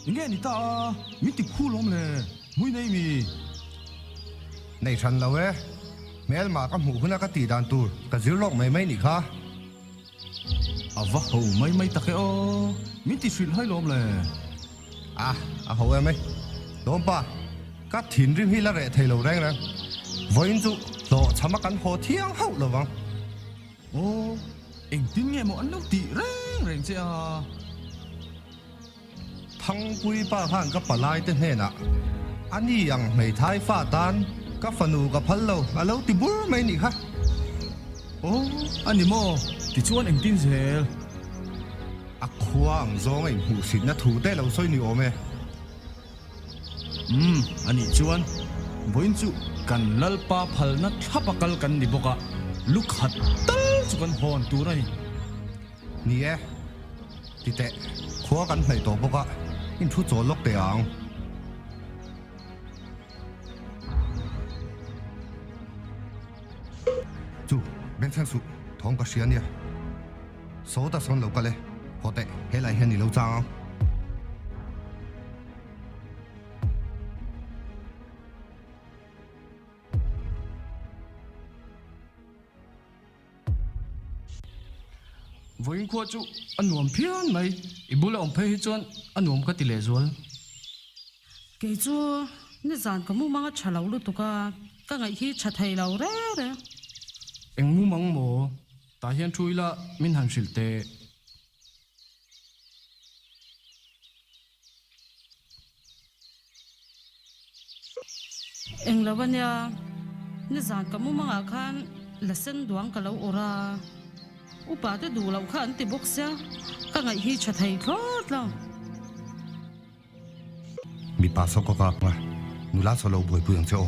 Nge ni ta a, min ti khu lawm le, mui nei mi? Nei hran lo e, hmel mah ka hmuh hun a ka tih dan tur ka zir lawk mai mai nih kha. A va ho mai mai tak e aw, min ti hrilh hai lawm le. A, a ho em e. Tlawmpa, ka thinrim hi la reh thei lo reng reng. Vawiin chu hlawh chham a kan haw thiang hauh lo vang. Aw, engtin nge maw an lo tih reng reng che a. Thangpui pa khan ka palai te hnenah, A ni ang, hmeithai fa tan ka fanu ka phal lo, a lo ti bur mai ni kha. Aw, a ni maw? Ti chuan engtin zel? A khua ang zawnga inhmuhsinna thu te lo sawi ni awm e. Umm, a nih chuan vawiin chu kan lalpa phalna thlap a kal kan ni bawk a, lukhat tal chu kan hawn tur a ni. Ni e, ti teh khua kan hnaih tawh bawk a, in thu chawl lawk teh ang. Chu, Bengchheng suh, thawng ka hria nia. Saw ta sawn lo kal e, haw teh, he lai hian i lo chang ang. Vawiin khua chu a nuam phian mai. I bula awm phei hi chuan a nuam ka ti leh zual. Kei chu nizan ka mumang a tha loh lutuk a, ka ngaih hi tha thei lo reng reng. Eng mumang maw? Tah hian thu ila min han hrilh teh. Englo a nia, nizan ka mu mangah khan la sen duang ka lo awrh a, upa te duh loh kha an ti bawk sia, ka ngaih hi tha thei thlawt lo. Mipa sawkawka hma nula sawhlo buaipui ang che aw.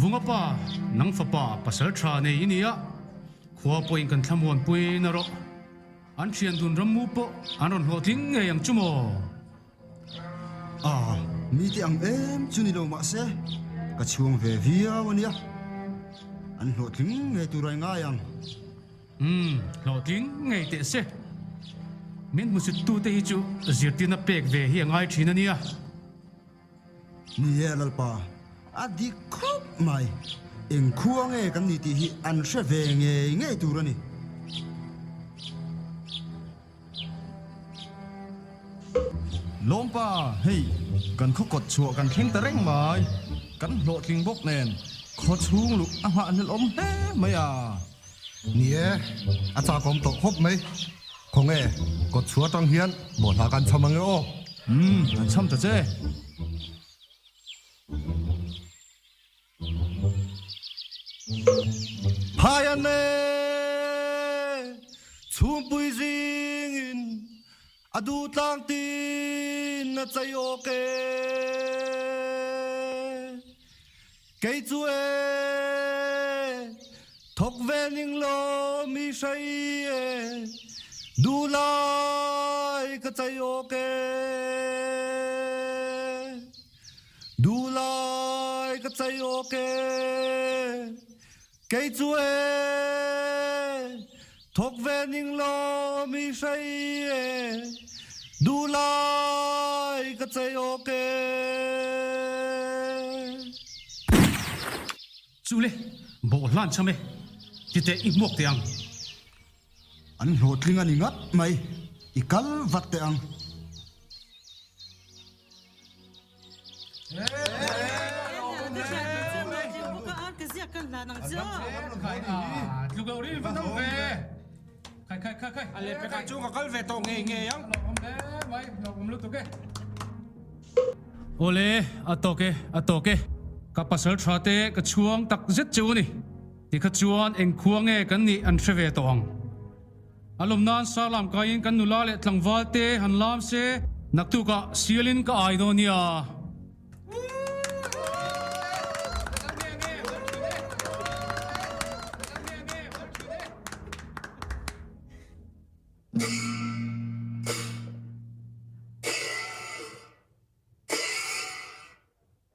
Vunga pa, nang fapa pasal tha nei i ni a, khua pawhin kan thlamuan pui na rawh. An thian dun rammu pawh an rawn hlawh tling ngei ang chu maw? Aah, mi teh ang em chu ni lo mah se, ka chhuang ve viau a nia, an hlawh tling ngei tur ai ngai ang. Umm, hlawhtling ngei teh se. Min hmusuttute hi chu zirtir na pek ve hi a ngai thin a nia. Ni e, Lalpa, a dik khawp mai. Eng khua nge kan nih tih hi an hre ve ngei ngei tur a ni. Lawmpa, hei, kan khaw kawt chhuah kan thleng ta reng mai. Kan hlawhtling bawk nen khaw chhung luh a nghah hlel awm hle mai a. Ni e, a chakawm tawh khawp mai. Khaw nge kawt chhuah atang hian bawhhla kan chham ange aw? Umm, kan chham ta che. Phai a ne chhumpui zingin a duhtlang tin a chei awk e. Kei chu e thawk vening lawmi hrei e, duhlai ka chei awk e. Dulai ka chei awk e, kei chu e, thawk ve ning law mi hrei e, Dulai ka chei awk e. Chule, bawh hlan chham e, titeh i hmuak teh ang. An hlawhtling a ni ngat mai. I kal vat teh ang. Awle, a tawk e, a tawk e. Ka pasal tha te ka chhuang tak zet chu a ni. Tikha chuan eng khua nge kan nih an hre ve tawh ang? A lawm nan sar lam kaiin kan nula leh tlangval te han lam se. Naktuk ah sial in ka ai dawn nia.